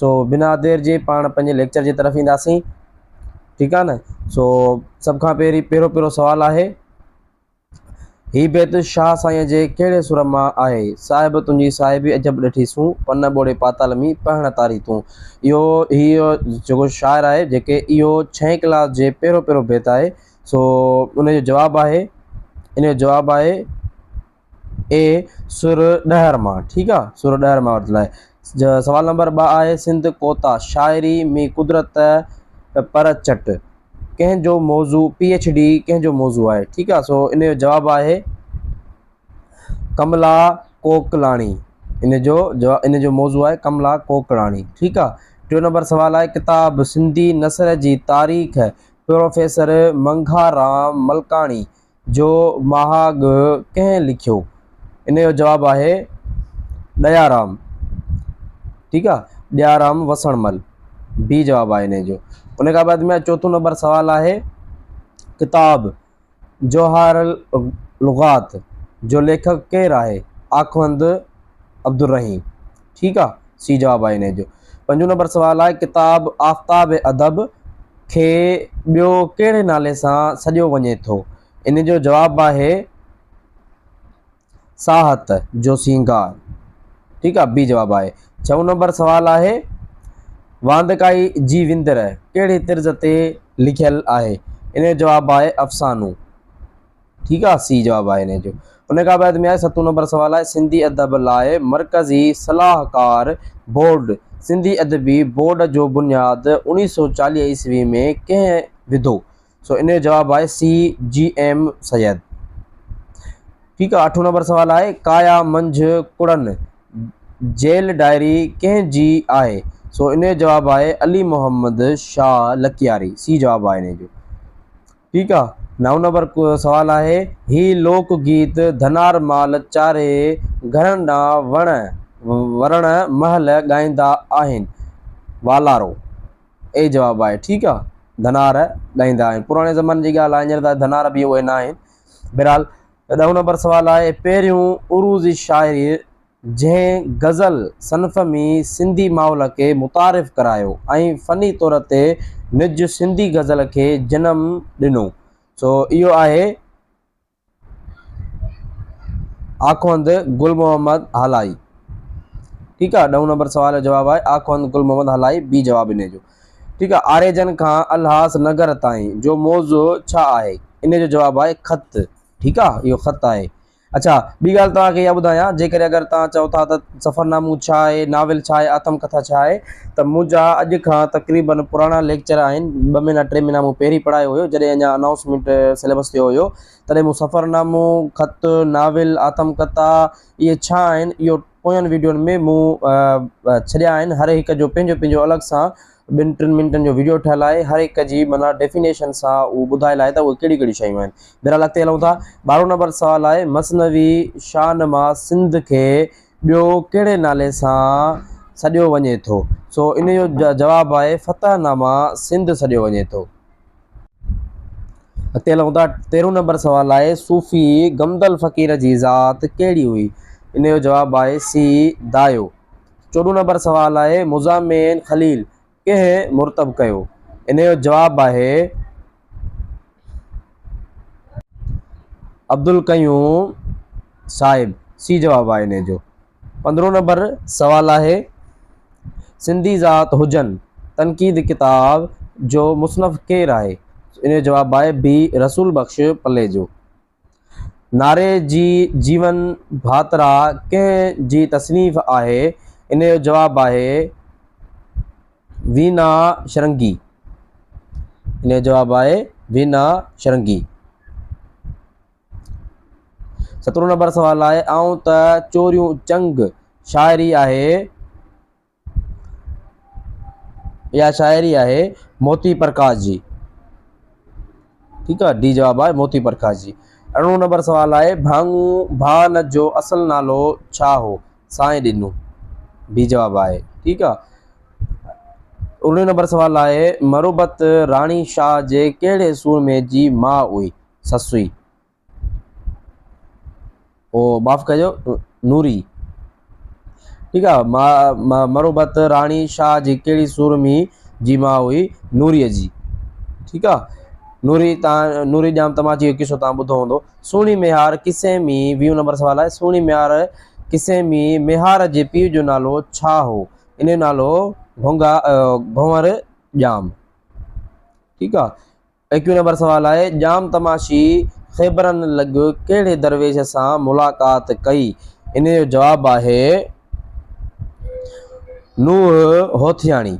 سو بنا دير جي پاڻ پنهنجي ليڪچر جي طرف اينداسين ٺيڪ آهي نه سو سڀ کان پهرين پهريون پهريون سوال آهي هي بيت شاهه سائين جي ڪهڙي سر مان آهي صاحب تنهنجي صاحبي عجب ڏٺي سون پن ٻوڙي پاتال مي پهڻ تاري تون اهو هيء جيڪو شاعر آهي جيڪي اهو ڇهين ڪلاس جي پهريون پهريون بيت آهي سو ان جو جواب آهي ان جو جواب آهي اي سر ڏهر مان ٺيڪ آ سر ڏهر مان ورتل آهي. سوال نمبر ٻه آهي سنڌ ڪوتا شاعري مي قدرت پر چٽ ڪنهن جو موضوع پي ايڇ ڊي ڪنهن جو موضوع آهي ٺيڪ آ سو ان جو جواب آهي ڪملا ڪوڪلاڻي ان جو جواب ان جو موضوع آهي ڪملا ڪوڪلاڻي ٺيڪ آ ٽيون نمبر سوال آهي ڪتاب سنڌي نثر جي تاريخ پروفيسر منگها رام ملڪاڻي جو مها ڳه ڪنهن لکيو؟ ان جو جواب آهي ڏيارام ٺيڪ آ ڏيارام وسڻ مل بي جواب آهي ان جو ان کان بعد ۾ چوٿون نمبر سوال آهي ڪتاب جوهر لغات جو ليکڪ ڪير آهي آخوند عبدالرحيم ٺيڪ آ سي جواب آ انهي جو. پنجون نمبر سوال آهي ڪتاب آفتاب ادب کي ٻيو ڪهڙي نالي سان سڏيو وڃي ٿو انهي جو جواب آهي ساهت جو سينگار ٺيڪ آ بي جواب آهي. ڇهون نمبر سوال آهي واندڪائي جي وندر ڪهڙي طرز تي لکيل آهي انهي جو جواب آهي افسانو. ٺيڪ آ سي جواب آهي انهي جو. ان کان بعد ۾ آهي ستون نمبر سوال آهي سنڌي ادب لاء مرڪزي صلاحڪار بورڊ سنڌي ادبي بورڊ جو بنياد اوڻيهه سؤ چاليهه عيسوي ۾ ڪنهن وڌو سو ان جو جواب آهي سي جي ايم سيد ٺيڪ آ اٺون نمبر سوال آهي ڪايا منجهه ڪڙن جيل ڊائري ڪنهن جي آهي سو ان جو جواب آهي علي محمد شاهه لڪياري سي جواب آهي انهي جو. ٺيڪ آ نو نمبر سوال آهي هي لوڪ گيت ڌنار مال چاري گهرن ڏانهن وڻ ورڻ مهل ڳائيندا آهن والارو اي جواب آهي ٺيڪ آ ڌنار ڳائيندا آهن پراڻي زماني جي ڳالهه آهي هينئر ته ڌنار به اهي ناهن بهرحال ڏهون نمبر سوال آهي پهريون عروضي شاعري جنهن غزل صنف ۾ سنڌي ماحول کي متعارف ڪرايو ۽ فني طور تي نج سنڌي غزل کي جنم ڏنو سو اهو آهي آخوند گل محمد هالائي. ٺيڪ آ ڏهون نمبر سوال جو جواب آهي آخوند گل محمد هالائي بي جواب انهي جو ٺيڪ آ آريجن کان الهاس نگر تائين جو موضوع ڇا آهي انهي جو جواب آهي خط ٺيڪ آ اهو خط آهي اڇا، ٻي ڳالهه توهان کي اها ٻڌايان، جيڪڏهن اگر توهان چئو ٿا ته سفرنامو ڇا آهي، ناول ڇا آهي، آتم ڪٿا ڇا آهي، ته منهنجا اڄ کان تقريبن پراڻا ليڪچر آهن، ٻه مهينا ٽي مهينا مون پهرين پڙهايو هيو، جڏهن اڃا انائونسمينٽ سليبس ٿيو هيو، تڏهن مون سفرنامو، خط، ناول، آتم ڪٿا، اهي ڇا آهن، اهو پوين ويڊيون ۾ مون ڇڏيا آهن، هر هڪ جو پنهنجو پنهنجو الڳ سان ٻن ٽن منٽن جو ويڊيو ٺهيل آهي هر هڪ جي معنيٰ ڊيفينيشن سان اهو ٻڌايل آهي ته اهي ڪهڙيون ڪهڙيون شيون آهن بهرحال اڳتي هلون ٿا ٻارهون نمبر سوال آهي مثنوي شاهنما سنڌ کي ٻيو ڪهڙي نالي سان سڏيو وڃي ٿو سو ان جو جواب آهي فتح ناما سنڌ سڏيو وڃي ٿو اڳتي هلون ٿا تيرهون نمبر سوال آهي صوفي گمدل فقير جي ذات ڪهڙي هئي ان جو جواب آهي سی دايو چوڏهون نمبر سوال آهي مزامين خليل ڪنهن مرتب ڪيو ان جو جواب آهي عبدالقيوم صاحب سي جواب آهي ان جو پندرهون نمبر سوال آهي سنڌي ذات هجن تنقيد ڪتاب جو مصنف ڪير آهي ان جو جواب آهي بي رسول بخش پليجو ناري جي جيون ڀاترا ڪنهن جي تصنيف آهي؟ ان جو جواب آهي وينا شرنگي ان جو جواب آهي وينا شرنگي. سترون نمبر سوال آهي آئون ته چوريون چنگ شاعري آهي. اها شاعري آهي موتي پرڪاش جي ٺيڪ آهي ڊي جواب آهي موتي پرڪاش جي ارڙهون نمبر سوال آهي ڀاڱون ڀان جو اصل نالو ڇا هو سائين ڏنو ڊي جواب آهي ٺيڪ آهي ارڙهون نمبر سوال آهي مروبت راڻي شاهه جي ڪهڙي سورمي جي ماء هئي سسوئي او معاف ڪجو نوري ٺيڪ آ مروبت راڻي شاھ جي ڪهڙي سور ۾ جي ماء هئي نوري جي ٺيڪ آ نوري تان نوري ڄام تماچي جو قصو تان ٻڌو هوندو سهڻي ميهار قصي ۾ ويهون نمبر سوال آهي سهڻي ميهار قصي ۾ ميهار جي پيء جو نالو ڇا هو ان جو نالو گهونگا گهونور ڄام ٺيڪ آ ايڪوهين نمبر سوال آهي، ڄام تماشي خيبرن لڳ ڪهڙي درويش سان ملاقات ڪئي؟ انهيء جو جواب آهي، نوح هوٿياڻي.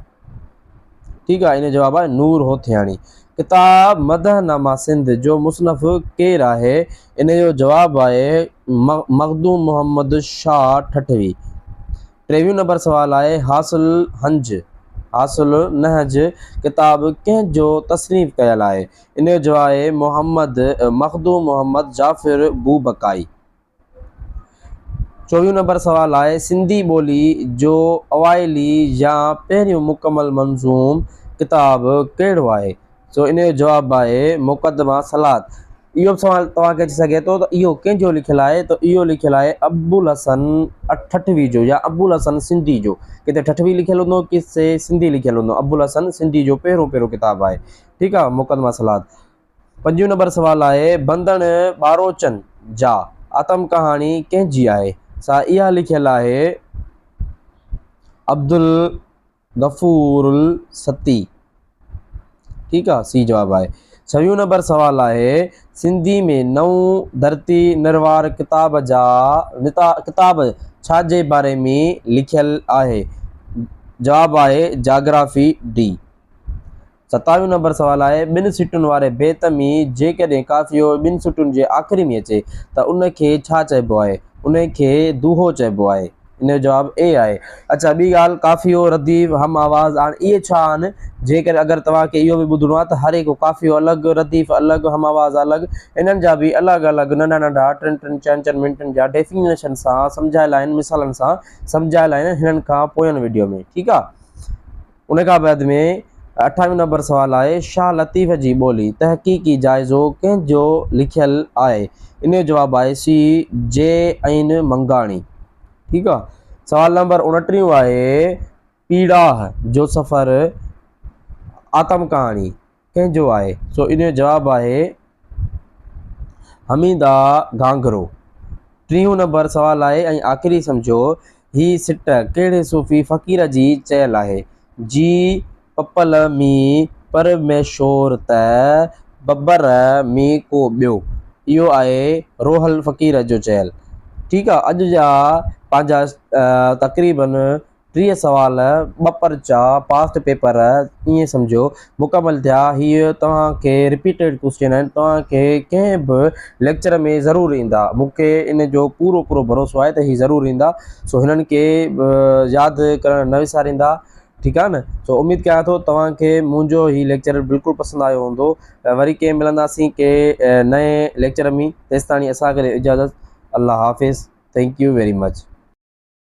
ٺيڪ آهي، انهيء جو جواب آهي، نور هوٿياڻي. ڪتاب مدح نامه سنڌ جو مصنف ڪير آهي؟ انهيء جو جواب آهي، مخدوم محمد شاهه ٺٽوي. ٽيويهون نمبر سوال آهي هاس الهنج، هاس النهج، ڪتاب ڪنهن جو تصنيف ڪيل آهي؟ ان جو جواهه آهي محمد مخدوم محمد جعفر بوبڪائي. چوويهون نمبر سوال آهي سنڌي ٻولي جو اوائلي يا پهريون مڪمل منظوم ڪتاب ڪهڙو آهي؟ سو ان جو جواب آهي مقدمه صلات. اهو به سوال توهان کي اچي سگهي ٿو ته اهو ڪنهن جو لکيل آهي ته اهو لکيل آهي ابوالحسن ٺٽوي جو يا ابوالحسن سنڌي جو ڪٿي ٺٽوي لکيل هوندو ڪٿي سنڌي لکيل هوندو ابوالحسن سنڌي جو پهريون پهريون ڪتاب آهي ٺيڪ آهي مقدمه صلات پنجون نمبر سوال آهي بندڻ ٻاروچن جا آتم ڪهاڻي ڪنهن جي آهي سا اها لکيل آهي عبدل غفور الستي ٺيڪ آ سي جواب آهي. ڇويون نمبر سوال آهي سنڌي ۾ نئون ڌرتي نروار ڪتاب جا ڪتاب ڇا جي باري ۾ لکيل آهي جواب آهي جاگرافي ڊي. ستاويهون نمبر سوال آهي، ٻن سٽن واري بيت ۾ جيڪڏهن قافيو ٻن سٽن جي آخري ۾ اچي ته ان کي ڇا چئبو آهي؟ ان کي دوهو چئبو آهي. ان جو جواب اي آهي. اڇا ٻي ڳالهه قافيو، رديف، هم آواز هاڻ اهي ڇا آهن؟ جيڪڏهن اگر توهان کي اهو به ٻڌڻو آهي ته هر هڪ قافيو الڳ، رديف الڳ، هم آواز الڳ انهن جا به الڳ الڳ ننڍا ننڍا ٽن ٽن چئن چئن منٽن جا ڊيفينيشن سان سمجهايل آهن مثالن سان سمجهايل آهن هنن کان پوين وڊيو ۾ ٺيڪ آهي. ان کان بعد ۾ اٺاويهون نمبر سوال آهي شاهه لطيف جي ٻولي تحقيقي جائزو ڪنهن جو لکيل آهي ان جو جواب آهي سي جي عين منگاڻي ٺيڪ آهي سوال نمبر اڻٽيهون آهي پيڙاهه جو سفر آتم ڪهاڻي ڪنهن جو آهي؟ سو ان جو جواب آهي حميده گهانگهرو. ٽيهون نمبر سوال آهي ۽ آخري سمجهو هي سٽ ڪهڙي صوفي فقير جي چيل آهي؟ جي پپل مي پر مي شور ته ببر مي ڪو ٻيو. اهو آهي روحل فقير جو چيل. ٺيڪ آهي اڄ جا پنهنجا تقريبن ٽيهه سوال، ٻه پرچا، پاسٽ پيپر ائين سمجهو مڪمل ٿيا. هي توهان کي رپيٽيڊ ڪوسچن آهن. توهان کي ڪنهن به ليڪچر ۾ ضرور ايندا. مون کي ان جو پورو پورو ڀروسو آهي ته هي ضرور ايندا. سو هنن کي ياد ڪرڻ نه وساريندا. ٺيڪ آهي نه. سو اميد ڪيان ٿو توهان کي منهنجو هي ليڪچر بلڪل پسند آيو هوندو. وري ڪي ملنداسين ڪي نئين ليڪچر ۾ تيستاڻي اسان کي ڏيو اجازت. الله حافظ. Thank you very much.